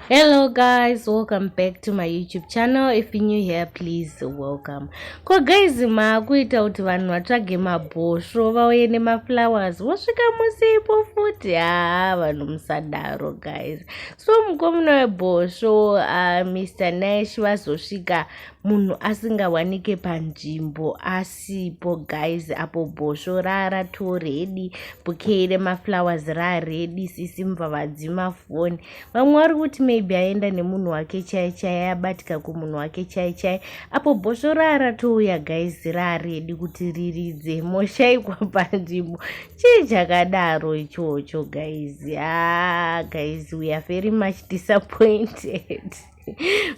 hello guys welcome back to my youtube channel if you new here please welcome ko guys maakuita kuti vanhu vatsvage mabhosvo vauye nemaflowers vosvika musipo futi haa vanhu musadaro guys so mukomuna webhosvo uh, ah, mr nash vazosvika munhu asingawanike panzvimbo asi sipo guys apo bhosvo rara to redi bukei remaflowers raredi sisi mvavadzima foni vamwe vari kuti maybe aenda nemunhu wake chai chai abatika kumunhu wake chai chai apo bhosvo rara touya guys raredi kuti riridze moshaikwa panzvimbo chii chakadaro ichocho guys a ah, guys we are very much disappointed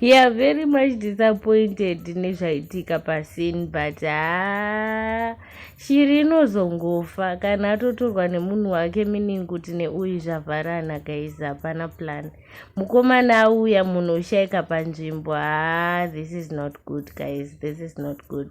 yeah very much disappointed nezvaitika pasin but haa shiri inozongofa kana atotorwa nemunhu wake meaning kuti neuyu zvavharana guys hapana plan mukomana auya munhu ushaika panzvimbo haa this is not good guys this is not good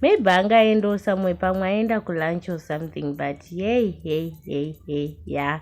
maybe anga aendawo samwe pamwe aenda kulunch or something but yey hey hey hey ya yeah.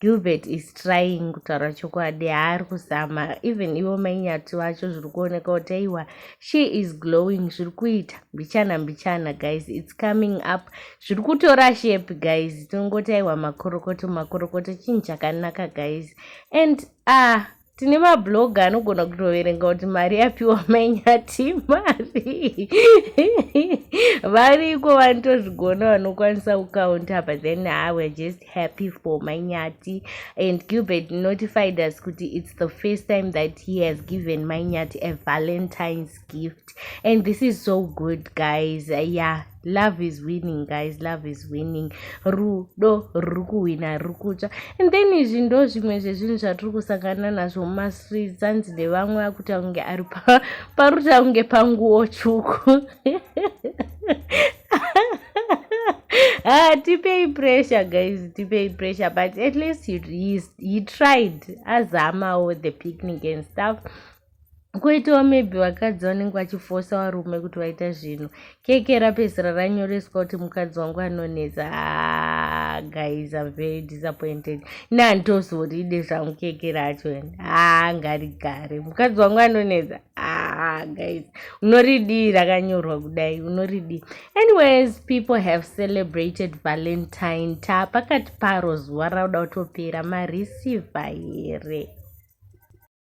Gilbert is trying kutaura chokwadi haari kuzama even ivo mainyati vacho zviri kuoneka kuti aiwa she is glowing zviri kuita mbichana mbichana guys its coming up zviri kutora shepi guys tinongoti aiwa makorokoto makorokoto chinhu chakanaka guys and ah uh, tine mabloga anogona kutoverenga kuti mari yapiwa manyati mari variko vanotozvigona vanokwanisa kukaunta but then ah, we're just happy for manyati and gilbert notified us kuti it's the first time that he has given manyati a valentines gift and this is so good guys yeah love is winning guys love is winning rudo ruri kuhwina ruri kutsva and then izvi ndo zvimwe zvezvinhu zvatiri kusangana nazvo mumastreets anzi nevamwe akuta kunge ari paruta kunge panguwo tsvuku ah, tipei pressure guys tipei pressure but at least he, he, he tried azamawo the picnic and stuff Koitawo maybe vakadzi vanenge vachifosa varume kuti vaita zvinhu. Keke rapedzisira ranyoreswa kuti mukadzi wangu anonetsa. Ah, guys, I'm very disappointed. Nandozoride zvangu keke racho. Ah, ngarigare. Mukadzi wangu anonetsa. Ah, guys. Unoridii rakanyorwa kudai. Unoridii. Anyways, people have celebrated Valentine. Ta pakati paro zuva rauda kutopera mareceiver here.